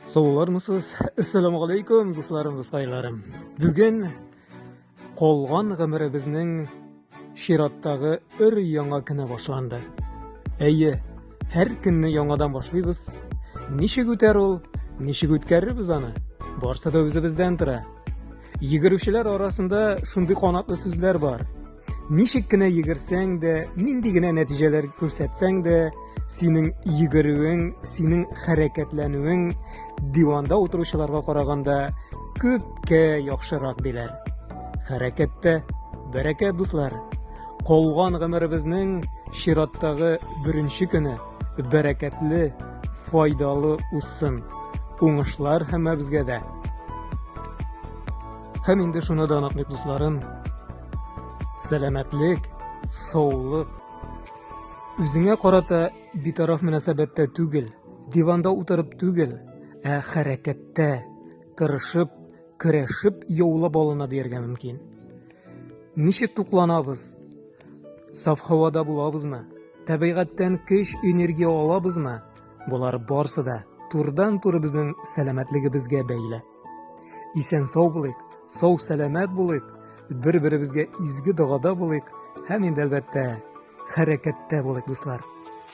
Саулармысыз? Әссәламу алейкум, дусларым, дускайларым. Бүген калган гомеребезнең чираттагы өр яңа көне башланды. Әйе, һәр көнне яңадан башлыйбыз. Ничек үтәр ул? Ничек үткәрербез аны? Барсы да үзебездән тора. Йөгерүчеләр арасында шундый канатлы сүзләр бар. Ничек кенә йөгерсәң дә, нинди генә нәтиҗәләр күрсәтсәң дә, синең йөгерүең, синең хәрәкәтләнүең диванда утыручыларга караганда күпкә яхшырак диләр. Хәрәкәттә бәрәкәт, дуслар. Калган гомеребезнең чираттагы беренче көне. бәрәкәтле, файдалы узсын. Уңышлар һәммәбезгә дә. Һәм инде шуны да онытмыйк, дусларым. Сәламәтлек, саулык. Үзеңә карата битараф мөнәсәбәттә түгел, диванда утырып түгел, ә хәрәкәттә, тырышып, көрәшеп яулап алына дияргә мөмкин. Ничек тукланабыз? Саф һавада булабызмы? Табигатьтән көч, энергия алабызмы? Болар барсы да турдан туры безнең сәламәтлегебезгә бәйле. Исән сау булыйк, сау сәламәт булыйк, бер-беребезгә изге догада булыйк һәм инде әлбәттә хәрәкәттә булыйк, дуслар.